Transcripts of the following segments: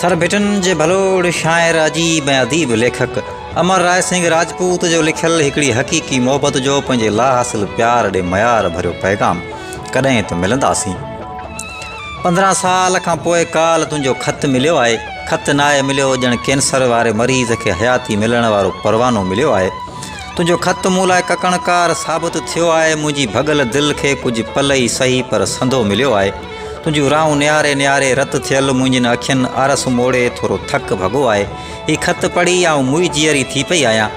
ٿر ڀٽن جي ڀلوڙ شاعر اديب ۽ اديب ليکڪ امر راء سنگهه راجپوت جو لکيل هڪڙي حقيقي محبت جو پنهنجي لا حاصل پيار ڏي معيار ڀريو پيغام ڪڏهن ته ملنداسين پندرهن سال کان پوء ڪال تنهنجو خط مليو آهي خط ناهي مليو ڄڻ ڪينسر واري مريض کي حياتي ملڻ وارو پروانو مليو آهي تنهنجو خط مون لاء ڪڪڻڪار ثابت ٿيو آهي، منهنجي ڀڳل دل کي ڪجهه پل ئي سهي پر سنڌو مليو آهي. تنهنجون راهون نهاري نهاري رت ٿيل منهنجين اکين آرس موڙي ٿورو ٿڪ ڀڳو آهي. هي خط پڙهي آئون موئي جيئري ٿي پئي آهيان.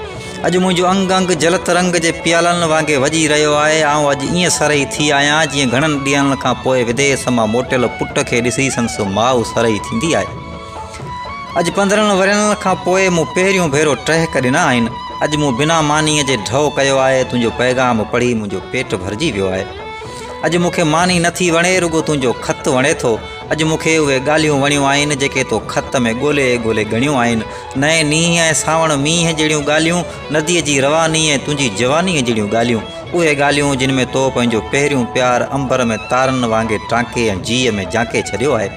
اڄ منهنجو انگ انگ جلت رنگ جي پيالن وانگي وڄي رهيو آهي. آئون اڄ ائين سرهي ٿي آهيان جيئن گهڻن ڏينهن کان پوء وديس مان موٽيل پٽ کي ڏسي سندس ماء سرهي ٿيندي آهي. اڄ پندرهن ورهين کان پوء مون پهريون ڀيرو ٽهڪ ڏنا آهن. اڄ مون بنا مانيء جي ڍؤ ڪيو آهي. تنهنجو پيغام پڙهي منهنجو پيٽ ڀرجي ويو آهي. اڄ مون کي ماني نه ٿي وڻي رڳو تنهنجو خط وڻي ٿو. اڄ مون کي اهي ڳالهيون وڻيون آهن جيڪي تو خط ۾ ڳولي ڳولي ڳڻيون آهن. نئين نينهن ۽ سانوڻ مينهن جهڙيون ڳالهيون، نديء جي رواني ۽ تنهنجي جوانيء جهڙيون ڳالهيون. اهي ڳالهيون جن ۾ تو پنهنجو پهريون پيار امبر ۾ تارن وانگي ٽانڪي ۽ جيء ۾ جانڪي ڇڏيو آهي.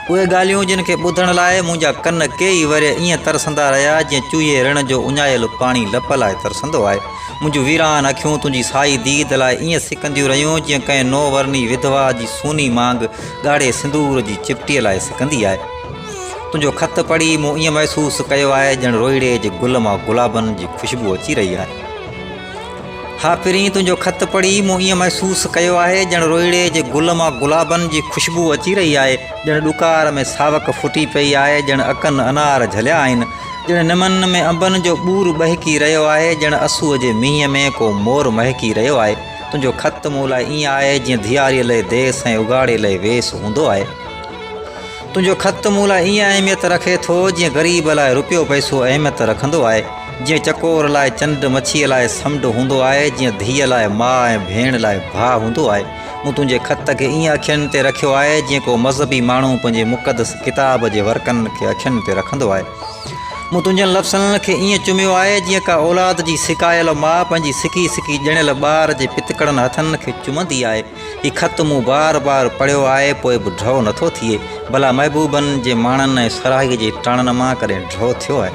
اهي ڳالهيون جن کي ٻڌڻ لاء منهنجا ڪن ڪيئي ورهيه ائين ترسندا رهيا جيئن چوهي رڻ جو اڃايل پاڻي لپ لاء ترسندو آهي. منهنجون ويران اکيون تنهنجي سائي ديد لاء ائين سڪنديون رهيون جيئن ڪنهن نو ورني وڌوا جي سوني مانگ ڳاڙهي سندور جي چپٽي لاء سڪندي آهي. تنهنجو خط پڙهي مون ائين محسوس ڪيو آهي ڄڻ روئڙي جي گل مان گلابن جي خوشبو اچي رهي آهي. ها پرين تنهنجو خط پڙهي مون ائين محسوس ڪيو آهي ڄڻ روئڙي جي گل مان گلابن جي خوشبو اچي رهي آهي ڄڻ ڏڪار ۾ ساوڪ ڦٽي پئي آهي ڄڻ اڪن انار جهليا آهن ڄڻ نمن ۾ انبن جو ٻور ٻهڪي رهيو آهي ڄڻ اسوء جي مينهن ۾ ڪو مور مهڪي رهيو آهي تنهنجو خط مون لاء ائين آهي جيئن ڌياري لئي ديس ۽ اگهاڙي لئي ويس هوندو آهي. تنهنجو خط مون لاء ائين اهميت رکي ٿو جيئن غريب لاء رپيو پئسو اهميت رکندو آهي، جيئن چڪور لاء چنڊ، مڇيء لاء سمنڊ هوندو آهي، جيئن ڌيء لاء ماء ۽ ڀيڻ لاء ڀاء هوندو آهي. مون تنهنجي خط کي ائين اکين تي رکيو آهي جيئن ڪو مذهبي ماڻهو پنهنجي مقدس ڪتاب جي ورقن کي اکين تي رکندو آهي. مون تنهنجن لفظن کي ائين چميو آهي جيئن ڪا اولاد جي سڪايل ماء پنهنجي سڪي سڪي ڄڻيل ٻار جي پتڪڙن هٿن کي چمندي آهي. هي خط مون بار بار پڙهيو آهي پوء به ڊهو نٿو ٿئي. ڀلا محبوبن جي ماڻن ۽ سرهائي جي ٽاڻن مان ڪڏهن ڊهو ٿيو آهي؟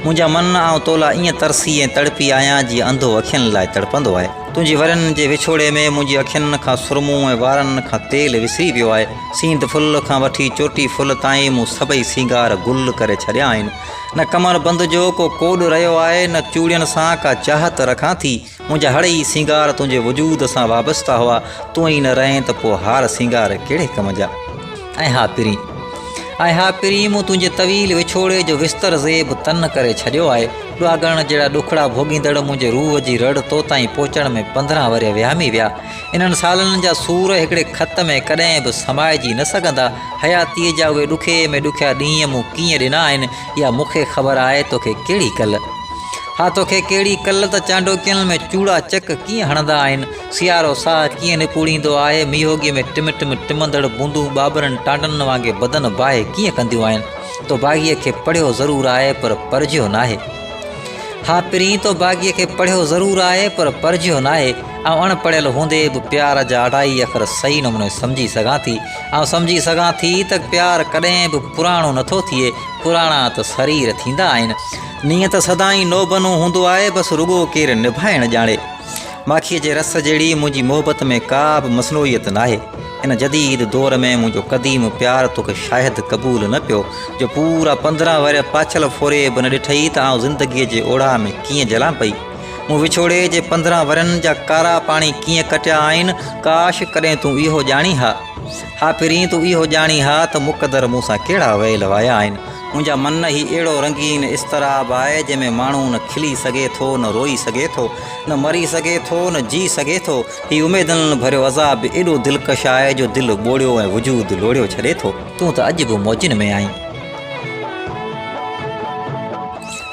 منهنجا من آئون تو لاء ائين ترسي ۽ تڙپي آهيان جيئن انڌو اکين لاء تڙپندو آهي. تنهنجي ورين جي وڇوڙي ۾ منهنجي اکين کان سرمون ۽ وارن کان تيل وسري ويو آهي. سينڌ ڦل کان وٺي چوٽي ڦل تائين مون سڀئي سينگار گل ڪري ڇڏيا آهن. نه ڪمر بند جو ڪو ڪوڏ رهيو آهي، نه چوڙين سان ڪا چاهت رکان ٿي. منهنجا هڙ ئي سينگار تنهنجي وجود سان وابسته هئا. تون ئي نه رهين ته پوء هار سينگار ڪهڙي ڪم جا؟ ۽ ها پرين! ۽ ها پرين! مون تنهنجي طويل وڇوڙي جو وستر زيب تن ڪري ڇڏيو آهي. ڏاڳڻ جهڙا ڏکڙا ڀوڳيندڙ منهنجي روح جي رڙ تو تائين پهچڻ ۾ پندرهن ورهيه وهامي ويا. انهن سالن جا سور هڪڙي خط ۾ ڪڏهن به سمائجي نه سگهندا. حياتيء جا اهي ڏکئي ۾ ڏکيا ڏينهن مون ڪيئن ڏنا آهن، اها مون کي خبر آهي، توکي ڪهڙي ڪل؟ ها توکي ڪهڙي ڪل ته چانڊوڪين ۾ چوڙا چڪ ڪيئن هڻندا آهن، سيارو ساهه ڪيئن نپوڙيندو آهي، ميهوڳي ۾ ٽم ٽم ٽمندڙ بوندون ٻاٻرن ٽانڊن وانگي بدن باهي ڪيئن ڪنديون آهن. تو باغيء کي پڙهيو ضرور آهي، پر پرجهيو ناهي. ها پرين، تو باغيء کي پڙهيو ضرور آهي، پر پرجهيو ناهي. آئون اڻ پڙهيل هوندي به پيار جا اڍائي اکر صحيح نموني سمجهي سگهان ٿي. آئون سمجهي سگهان ٿي ته پيار ڪڏهن به پراڻو نه ٿو ٿئي، پراڻا ته سرير ٿيندا آهن. نينهن ته سدائين نوبنو هوندو آهي، بس رڳو ڪير نڀائڻ ڄاڻي. ماکيء جي رس جهڙي منهنجي محبت ۾ ڪا به مصنوعيت ناهي. هن جديد دور ۾ منهنجو قديم پيار توکي شايد قبول نه پيو، جو پورا پندرهن ورهيه پاڇل ڦوري به نه ڏٺئي ته آئون زندگيء جي اوڙاهه ۾ ڪيئن جلان پئي. مون وڇوڙي جي پندرهن ورهين جا ڪارا پاڻي ڪيئن ڪٽيا آهن، ڪاش ڪڏهن تون اهو ڄاڻين ها. ها پرين تون اهو ڄاڻين ها ته مقدر مون سان ڪهڙا ويل وايا آهن. منهنجا من هي اهڙو رنگين اضطراب آهي جنهن ۾ ماڻهو نه کلي سگهي ٿو، نه روئي سگهي ٿو، نه مري سگهي ٿو، نه جي سگهي ٿو. هي اميدن ڀريو عذاب به ايڏو دلڪش آهي جو دل ٻوڙيو ۽ وجود لوڙهيو ڇڏي ٿو. تون ته اڄ به موجن ۾ آهين.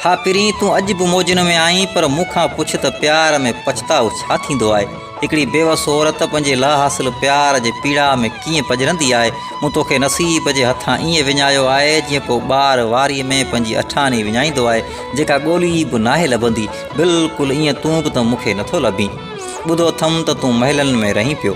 ها پرين تون اڄ به موجن ۾ آهين پر مون کان پڇ ته پيار ۾ پڇتاء ڇا ٿيندو آهي؟ هڪڙي بيوس عورت پنهنجي لاحاصل پيار جي پيڙاء ۾ ڪيئن پڄرندي آهي؟ مون توکي نصيب جي هٿان ائين وڃايو آهي جيئن ڪو ٻار واري ۾ پنهنجي اٺاڻي وڃائيندو آهي جيڪا ڳولي به ناهي لڀندي. بلڪل ائين تون به ته مون کي نٿو لڀين. ٻڌو اٿم ته تون محلن ۾ رهين پيو.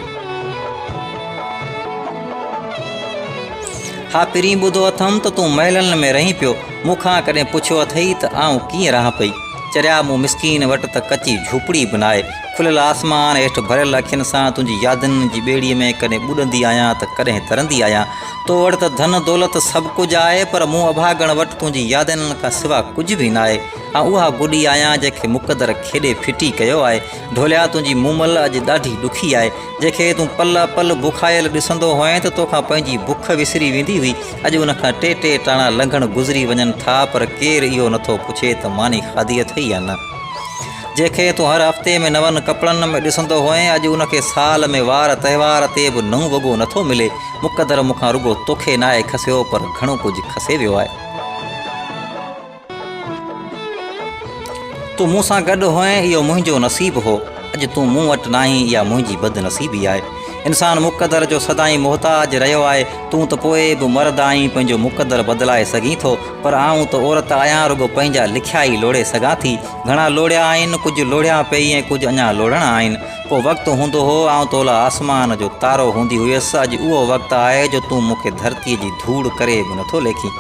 ها پرين ٻڌو اٿم ته تون محلن ۾ رهين پيو. مون کان ڪڏهن پڇيو اٿئي ته آئون ڪيئن رهان پئي؟ چريا مون مسڪين وٽ ته ڪچي جهوپڙي به ناهي. کليل آسمان هيٺ ڀريل اکين سان تنهنجي يادن جي ٻيڙيء ۾ ڪڏهن ٻڏندي آهيان ته ڪڏهن ترندي آهيان. تو وٽ ته ڌن دولت سڀ ڪجهه آهي پر مون اڀاڳڻ وٽ تنهنجي يادن کان سوا ڪجهه به ناهي. آئون اها گڏي آهيان جنهن کي مقدر کيڏي ڦٽي ڪيو آهي. ڍوليا تنهنجي مومل اڄ ڏاڍي ڏکي آهي. جنهن کي تون پل پل بکايل ڏسندو هئين ته توکان پنهنجي بک وسري ويندي هئي. اڄ ان کان ٽي ٽي ٽاڻا لنگهڻ گذري وڃن ٿا پر ڪير اهو نٿو پڇي ته ماني کاڌي اٿئي يا نه. جنهن کي تون هر هفتي ۾ نون ڪپڙن ۾ ڏسندو هئين اڄ ان کي سال ۾ وار تهوار تي به نئون وڳو نٿو ملي. مقدر مون کان رڳو توکي ناهي کسيو پر گهڻو ڪجهه کسي ويو آهي. تون مون سان گڏ هئين اهو منهنجو نصيب هو، اڄ تون مون وٽ ناهين اها منهنجي بدنصيبي آهي. انسان مقدر جو سدائين محتاج رهيو آهي، تون ته پوء به مرد آهين پنهنجو مقدر بدلائي سگهين ٿو پر آئون ته عورت آهيان رڳو پنهنجا لکيا ئي لوڙهي سگهان ٿي، گهڻا لوڙهيا آهن، ڪجهه لوڙهيان پئي ۽ ڪجهه اڃا لوڙهڻا آهن. ڪو وقت هوندو هو آئون تو لاء آسمان جو تارو هوندي هيس، اڄ اهو وقت آهي جو تون مون کي ڌرتي جي ڌوڙ ڪري به نٿو ليکين.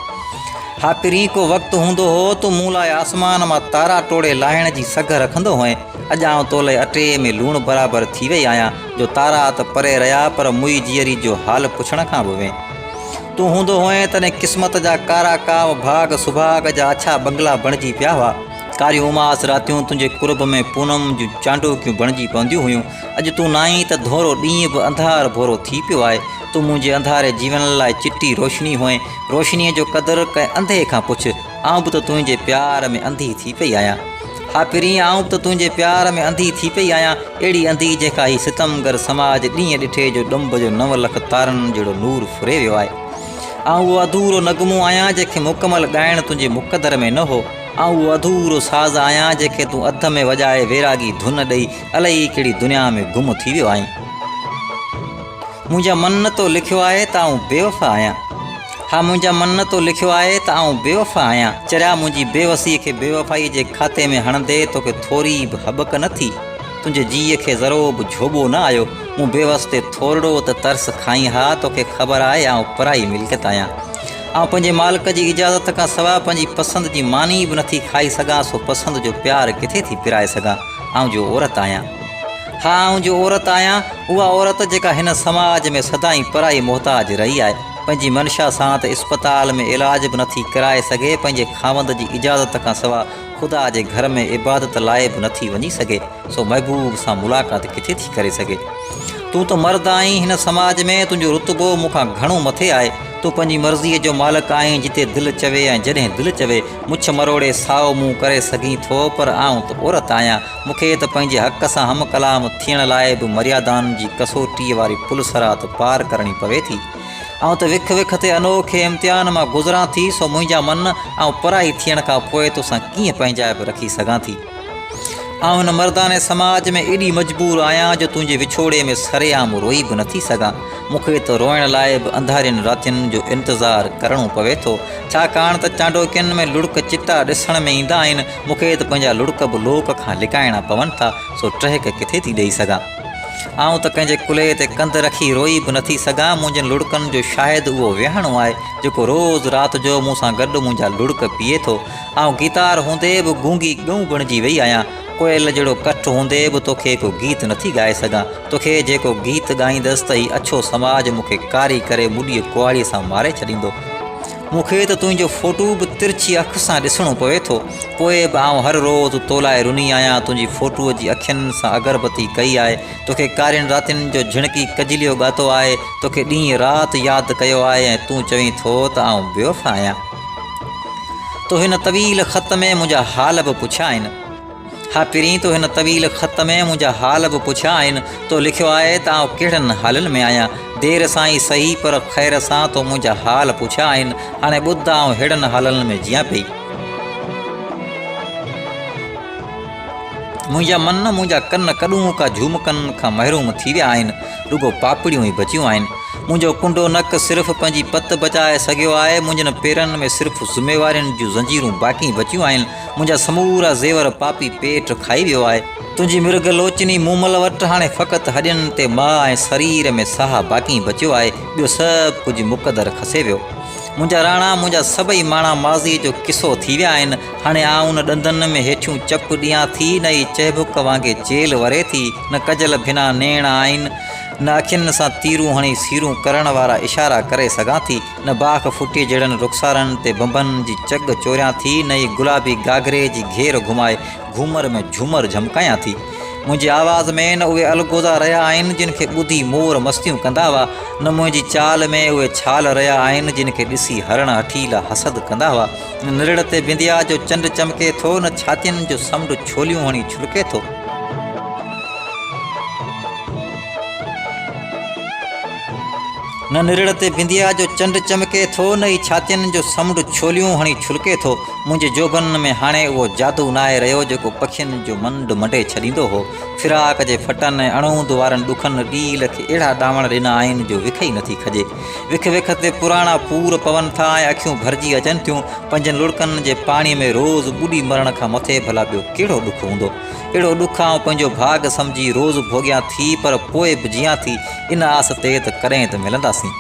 ها پرين ڪو وقت هوندو هو، تون مون لاء آسمان مان تارا ٽوڙي لاهڻ جي سگهه رکندو هئين. اڄ آئون تولئي اٽي ۾ لوڻ برابر ٿي وئي آهيان، جو تارا ته پري رهيا پر موئي جيئري جو حال پڇڻ کان به وين. تون هوندو هئين تڏهن قسمت جا ڪارا ڪاو ڀاڳ سڀاڳ جا اڇا بنگلا بڻجي پيا هئا. ڪاريون اماس راتيون تنهنجي قرب ۾ پونم جون چانڊوڪيون بڻجي پونديون هيون. اڄ تون ناهين ته ڌونئرو ڏينهن به انڌار ڀورو ٿي پيو آهي. تون منهنجي انڌاري جيون لاء چٽي روشني هئين، روشنيء جو قدر ڪنهن انڌي کان پڇ، آئون به ته تنهنجي پيار ۾ انڌي ٿي پئي آهيان. ها پرين، آئون به ته تنهنجي پيار ۾ انڌي ٿي پئي آهيان، اهڙي انڌي جنهن کان هي ستمگر سماج ڏينهن ڏٺي جو ڏنڀ جو نو لک تارن جهڙو نور ڦري ويو آهي. آئون اهو اڌورو نغمو آهيان جنهن کي مڪمل ڳائڻ تنهنجي مقدر ۾ نه هو، آئون اهو اڌورو ساز آهيان جنهن کي تون اڌ ۾ وڄائي ويراڳي ڌن ڏئي الائي ڪهڙي دنيا ۾ گم ٿي ويو آهين. منهنجا من نه تو لکيو آهي ته آئون بيوفا آهيان ها منهنجا من نه تو لکيو آهي ته آئون بيوفا آهيان چريا منهنجي بيوسي کي بيوفائي جي کاتي ۾ هڻندي توکي ٿوري به هٻڪ نه ٿي تنهنجي جيء کي ذرو به جهوٻو نه آيو مون بيوس تي ٿورڙو ته ترس کائين ها توکي خبر آهي آئون پرائي ملڪيت آهيان آئون پنهنجي مالڪ جي اجازت کان سواء پنهنجي پسند جي ماني به نه ٿي کائي سگهان سو پسند جو پيار ڪٿي ٿي پرائي سگهان آئون جو عورت آهيان. ها آئون جو عورت آهيان، اها عورت جيڪا هن سماج ۾ سدائين پرائي محتاج رهي آهي، پنهنجي منشا سان ته اسپتال ۾ علاج به نٿي ڪرائي سگهي، پنهنجي خاوند جي اجازت کان سوا خدا جي گهر ۾ عبادت لاء به نٿي وڃي سگهي، سو محبوب سان ملاقات ڪٿي ٿي ڪري سگهي. تون ته مرد آهين، هن سماج ۾ تنهنجو رتبو مون کان گهڻو مٿي آهي، تون پنهنجي مرضيء جو مالڪ آهين جتي دل چوي ۽ جڏهن دل چوي مڇ مروڙي سائو منهن ڪري سگهين ٿو پر آئون ته عورت آهيان مون کي ته پنهنجي حق سان هم ڪلام ٿيڻ لاء به مريادائن جي ڪسوٽيء واري پل صراط پار ڪرڻي پوي ٿي آئون ته وک وک تي انوکي امتحان مان گذران ٿي سو منهنجا من آئون پرائي ٿيڻ کان پوء توسان ڪيئن پنهنجائپ رکي سگهان ٿي. آئون هن مردانه سماج ۾ ايڏي مجبور آهيان جو تنهنجي وڇوڙي ۾ سري عام روئي به نٿي سگهان. مون کي ته روئڻ لاء به انڌارين راتين جو انتظار ڪرڻو پوي ٿو. ڇاڪاڻ ته چانڊوڪين ۾ لڙڪ چٽا ڏسڻ ۾ ايندا آهن. مون کي ته پنهنجا لڙڪ به لوڪ کان لڪائڻا پون ٿا، سو ٽهڪ ڪٿي ٿي ڏيئي سگهان. آئون ته ڪنهن جي ڪلهي تي ڪنڌ رکي روئي به نٿي سگهان. منهنجين لڙڪن جو شاهد اهو ويهڻو آهي، جيڪو روز رات جو مون سان گڏ منهنجا لڙڪ پيئي ٿو. آئون گيتار هوندي به گونگي ڳئون بڻجي وئي آهيان. ڪوئل جهڙو ڪٺ هوندي به توکي ڪو گيت نٿي ڳائي سگهان. توکي جيڪو گيت ڳائيندس ته هي اڇو سماج مون کي ڪاري ڪري مڏيء ڪهاڙيء سان ماري ڇڏيندو. مون کي ته تنهنجو فوٽو به ترڇي اک سان ڏسڻو پوي ٿو. پوء به آئون هر روز تو لاء رني آهيان. تنهنجي فوٽوء جي اکين سان اگربتي ڪئي آهي. توکي ڪارين راتين جو جهڻڪي ڪجليو ڳاتو آهي. توکي ڏينهن رات ياد ڪيو آهي ۽ تون چوين ٿو ته آئون بيوفا آهيان. تو هن طويل خط ۾ منهنجا حال به پڇيا آهن ها پرين تو هن طويل خط ۾ منهنجا حال به پڇيا آهن تو لکيو آهي ته آئون ڪهڙن حالن ۾ آهيان دير سان ئي سهي پر خير سان تو منهنجا حال پڇيا آهن هاڻي ٻڌ آئون ههڙن حالن ۾ جيان پئي منهنجا من منهنجا ڪن ڪڏون ڪا جهومڪن کان محروم ٿي ويا آهن رڳو پاپڙيون ئي بچيون آهن منهنجو ڪنڊو نڪ صرف پنهنجي پت بچائي سگهيو آهي، منهنجن پيرن ۾ صرف ذميوارين جون زنجيرون باقي بچيون آهن، منهنجا سمورا زيور پاپي پيٽ کائي ويو آهي، تنهنجي مرگ لوچني مومل وٽ هاڻي فقط هڏين تي ماء ۽ سرير ۾ ساهه باقي بچيو آهي، ٻيو سڀ ڪجهه مقدر کسي ويو. منهنجا راڻا، منهنجا سڀئي ماڻا ماضيء جو قصو ٿي ويا آهن، هاڻي آئون نه ڏندن ۾ هيٺيون چپ ڏيان ٿي، نه ئي چهبڪ وانگي چيلهه وري ٿي، نه ڪجل ڀنا نيڻ آهن، نه اکين سان تيرون هڻي سيرون ڪرڻ وارا اشارا ڪري سگهان ٿي، نه باک ڦٽي جهڙن رخسارن تي بنبن جي چڳ چوريان ٿي، نه ئي گلابي گهاگهري جي گهير گهمائي گهومر ۾ جهومر جهمڪايان ٿي. منهنجي آواز ۾ نه اهي الغوزا رهيا آهن، جن کي ٻڌي مور مستيون ڪندا هئا، نه منهنجي چال ۾ اهي ڇال رهيا آهن، جن کي ڏسي هرڻ هٺيلا حسد ڪندا هئا. نه نرڙ تي بنديا جو چنڊ چمڪي ٿو، نه ڇاتين جو سمنڊ ڇوليون هڻي ڇلڪي ٿو. نه نرڙ تي بنديا جو چنڊ چمڪي ٿو نه ئي ڇاتين جو سمنڊ ڇوليون هڻي ڇلڪي ٿو منهنجي جوڀن ۾ هاڻي اهو جادو ناهي رهيو جيڪو پکين جو منڊ منڊي ڇڏيندو هو فراق جي ڦٽن ۽ اڻهوند وارن ڏکن ڏيل کي اهڙا ڏاوڻ ڏنا آهن جو وک ئي نٿي کڄي وک وک تي پراڻا پور پون ٿا ۽ اکيون ڀرجي اچن ٿيون پنجن لڙڪن جي پاڻي ۾ روز ٻڏي مرڻ کان مٿي ڀلا ٻيو ڪهڙو ڏک هوندو اهڙو ڏک آئون پنهنجو ڀاڳ سمجهي روز ڀوڳيان ٿي پر پوء به جيان ٿي ان آس تي ته ڪڏهن ته ملنداسين.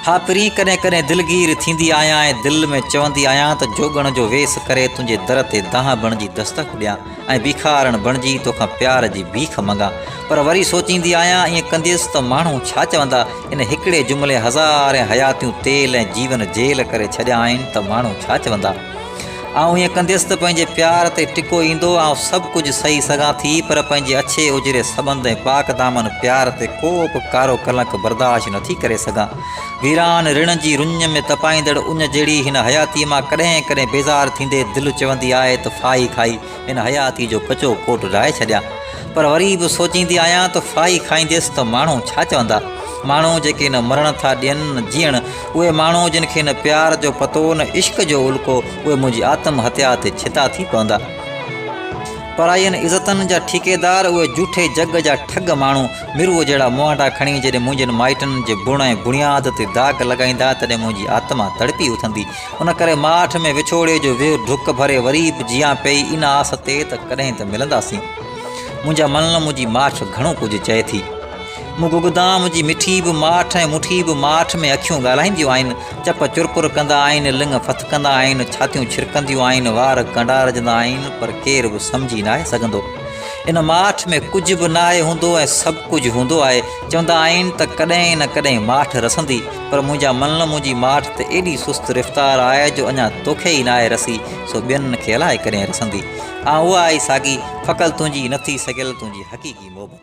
ها پرين ڪڏهن ڪڏهن دلگير ٿيندي آهيان ۽ دل ۾ چوندي آهيان ته جوڳڻ جو ويس ڪري تنهنجي در تي دانهن بڻجي دستڪ ڏيان ۽ بيکارڻ بڻجي توکان پيار جي بيک منگان پر وري سوچيندي آهيان ائين ڪنديس ته ماڻهو ڇا چوندا ان هڪڙي جملي هزارين حياتيون تيل ۽ جيون جيل ڪري ڇڏيا آهن ته ماڻهو ڇا چوندا. آئون ائين ڪنديس ته پنهنجي پيار تي ٽڪو ايندو، آئون سڀ ڪجهه سهي سگهان ٿي پر پنهنجي اڇي اجري سٻنڌ ۽ پاڪ دامن پيار تي ڪو به ڪارو ڪلنڪ برداشت نه ٿي ڪري سگهان. ويران رڻ جي رڃ ۾ تپائيندڙ اڃ جهڙي هن حياتيء مان ڪڏهن ڪڏهن بيزار ٿيندي دل چوندي آهي ته ڦاهي کائي هن حياتيء جو ڪچو ڪوٽ ڊاهي ڇڏيان، پر وري به سوچيندي آهيان ته ڦاهي کائينديس ته ماڻهو ڇا چوندا؟ ماڻهو جيڪي نه مرڻ ٿا ڏين نه جيئڻ، اهي ماڻهو جن کي نه پيار جو پتو نه عشق جو الڪو، اهي منهنجي آتم هتيا تي ڇتا ٿي پوندا. پرائين عزتن جا ٺيڪيدار، اهي جوٺي جڳ جا ٺڳ ماڻهو، مروء جهڙا موهانڊا کڻي جڏهن منهنجن مائٽن جي بڻ ۽ بڻياد تي داغ لڳائيندا، تڏهن منهنجي آتما تڙپي اٿندي. ان ڪري ماٺ ۾ وڇوڙي جو ويهه ڊڪ ڀري وري به جيان پئي ان آس تي ته ڪڏهن ته ملنداسين. منهنجا ملن منهنجي ماٺ گهڻو ڪجهه چئي ٿي. مون گگدام جي مٺي به ماٺ ۽ مٺي به ماٺ ۾ اکيون ڳالهائينديون آهن، چپ چرپر ڪندا آهن، لڱ ڦٿڪندا آهن، ڇاتيون ڇرڪنديون آهن، وار ڪنڊارجندا آهن پر ڪير به سمجهي ناهي سگهندو. ان ماٺ ۾ ڪجهه به ناهي هوندو ۽ سڀ ڪجهه هوندو آهي. چوندا آهن ته ڪڏهن نه ڪڏهن ماٺ رسندي. پر منهنجا ملن منهنجي ماٺ تي ايڏي سست رفتار آهي جو اڃا توکي ئي ناهي رسي سو ٻين کي الائي ڪڏهن رسندي آ اها آهي ساڳي ڦڪل تنهنجي نٿي سڪيل تنهنجي حقيقي محبت.